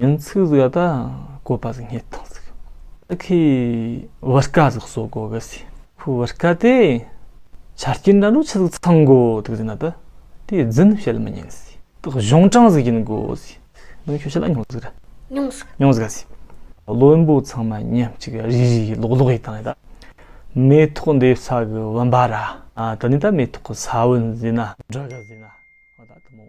ཡང་ཚིག་ཟིག་ད་བཀོད་པ་ཟིག་རྙེད་དང་ཟིག་ད་ཁོས་བུ་སྐ་ཟིག་གསོ་དགོ་གི་ཟིག་ཁོས་བུ་སྐ་དེ་ཆ་རྐྱེན་འདྲ་འདྲོ་ཆི་ཟིག་ཚང་དགོ་དག་ཟིག་ན་ད་དེ་རྫུན་བཤད་མི་ཉན་ཟིག་ད་གཞུང་དྲང་ཟིག་ཡིན་དགོ་ཟིག་ནང་ཆོས་ཆི་ལ་ཉུང་ཟིག་ར་ཉུང་ཟིག་ཉུང་ཟིག་ག་ཟིག་བློན་པོ་ཚང་མ་ཉམས་གཅིག་རིག་རིག་ཡིན་ལོག་ལོག་ཡིན་དང་ནི་ད་མེ་ཐོག་འདེབས་ས་གི་བུམ་པ་ར་ད་ནི་ད་མེ་ཐོག་གི་ས་བོན་ཟིག་ན་འདྲ་གི་ཟིག་ན་ད་ད་མོ།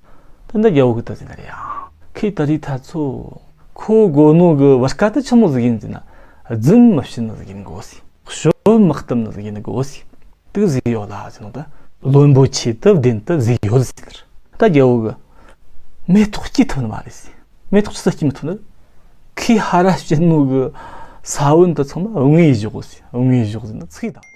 སྟོན་ཟླ་རྒྱལ་པོ་གི་སྟོད་ཟིན་པ་རེད་ཡ། ཁོས་ད་རེས་ད་ཚོ། ཁོ་དགོ་ནོ་གི་བར་སྐ་ཏི་ཆི་མོ་ཟིག་ཡིན་ཟིན་ན། རྫུན་མི་བཤད་ནོ་ཟིག་ཡིན་གོ་སི། ཞོ་མི་གཏུབ་ནོ་ཟིག་ཡིན་གོ་སི། དུག་ཟིག་ཡོད་ལ་ཟིན་ནོ་ད། བློན་པོ་ཆེ་དུབ་བདེན་དུ་ཟིག་ཡོད་ཟིན་ནར། ད་རྒྱལ་པོ་གི། མེ་ཏོག་སྐྱེ་ཐུབ་ནི་མ་རེད་སི། མེ་ཏོག་ཅི་ས་སྐྱེ་མི་ཐུབ་ནར། ཁོས་ཧ་ར་བཤད་ནོ་གི། ས་བོན་དུ་ཚང་མ་དངོས་གཞོག་གོ་སི་དངོས་གཞོག་ཟིན་ན་ཚིག་དང།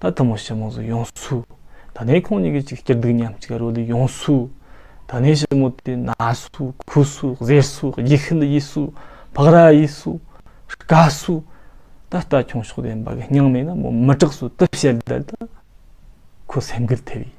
ད་ཐུ་མོ་ཞེ་མོ་ཟུ་ཡོང་སུ། ད་ནས་ཁོང་གཉིས་ཀྱི་ཅིག་སྐྱིར་སྡུག་མཉམ་གཅིག་རོ་ལུ་ཡོང་སུ། ད་ནས་ཞེ་མོ་དེ་ན་སུ་ཁུ་སུ་གཟས་སུ་ཡི་ཤི་འདི་ཡིས་སུ་བག་ར་ཡིས་སུ། དཀའ་སུ། ད་ལྟ་ཁྱུང་ཤོག་དེ་འབའ་གི་སྙིང་མེད་ན་མོ་མི་སྐྲག་སུ་དེ་བཤད་བསྡད་ད། ཁོ་སེམས་འགུལ་ཐེབས་ཡིན།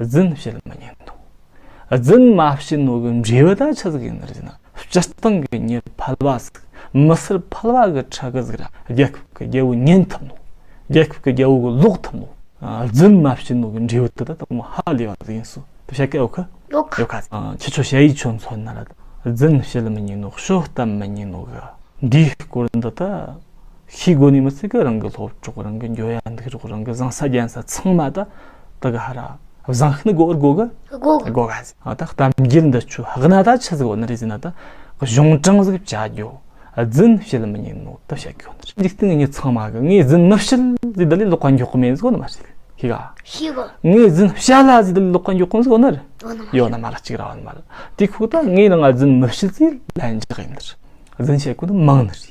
རྫུན་བཤད་མི་ཉན་ཏོ། རྫུན་མ་བཤད་ནོ་གི་འབྲས་བུ་དང་ཆ་ཟིག་ཡིན་རེད་ན་སྤྱིར་བཏང་གི་མྱི་ཕལ་བ་ཟིག་མི་སེར་ཕལ་བ་གི་ཁྲག་གི་ཟིག་ར་རྒྱལ་ཁབ་གི་རྒྱལ་བོ་ཉན་ཐུབ་ནོ། རྒྱལ་ཁབ་གི་རྒྱལ་བོ་གི་ལོག་ཐུབ་ནོ། རྫུན་མ་བཤད་ནོ་གི་འབྲས་བུ་དེ་དག་དང་མོ་ཧ་ལས་བ་ཟིག་ཡིན་སོ་དེ་བཤད་སྐད་འོ་ཁི། ཡོ་ཁ། ཁྱི་ཆོ་བྱ་ཡིས་ཆོ་མཚོན་ན་ར་རྫུན་བཤད་མི་ཉན་ནོ་བཤོ་གཏམ་མི་ཉན་ནོ་གི། འདིའི་སྐོར་འདི་དག་ཤེས་དགོས་ནི་མི་ཚེ་གི་རང་གི་སློབ་གྲོགས་རང་གི་འགྱོ་ཡ་འདུག་རོགས་རང་གི་བཟང་ས་རྒྱན་ས་ཚང་མ་དག་དག་ཧ་ར་བཟང་ཤི་ནི་གོ་རྒོ་གི་གོ་གི་གོ་ག་ཟི་ཨ་ད་གཏམ་རྒྱུད་འདི་ཆུ་ཧག་ན་ད་ཆི་ཟི་གོ་ནི་རི་ཟི་ན་ད་གཞུང་དྲང་ཟིག་བྱ་རྒྱོ་རྫུན་བཤད་མི་ཉན་ནོ་ད་བཤད་གོ་ནི་རི་འཇིག་རྟེན་གི་ཉི་ཚང་མ་གི་ངས་རྫུན་མི་བཤད་ཟི་ད་ལི་ལོག་ཀ་མགྱོག་མེད་ཟི་གོ་ནི་མ་ཤི་གི་ཤི་ག་ཤི་གི་ངས་རྫུན་བཤད་ལ་ཟི་ད་ལི་ལོག་ཀ་མགྱོག་མེད་ཟི་གོ་ནི་རི་ཡོ་ན་མ་ལ་གཅིག་ར་བ་ནི་མ་ལ་དེ་ཁོ་ད་ངས་ལ་ང་རྫུན་མི་བཤད་ཟི་ལན་འཇག་ཡིན་ནི་རྫུན་བཤད་གོ་ནི་མང་ནི་རི་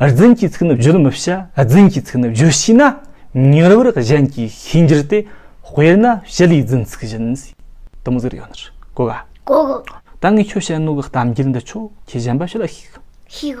རྫུན་གྱི་ཚིག་ནི་བརྗོད་མི་བྱ་རྫུན་གྱི་ཚིག་ནི་བརྗོད་ཤེས་ན་མྱུར་བར་གཞན་གྱི་ཤེས་འགྱུར་ཏེ་དཔེར་ན་ཞི་ལའི་རྫུན་ཚིག་བཞིན། དུམ་བཟེར་ཡོད་ནི་ལྐོག། ལྐོག། ད་ངས་ཁྱོད་བྱེད་ནོ་གི་གཏམ་རྒྱུད་འདི་ཆོག་ཁྱོས་གཞན་པ་ཞིག་ལ་ཤིག། ཤིག།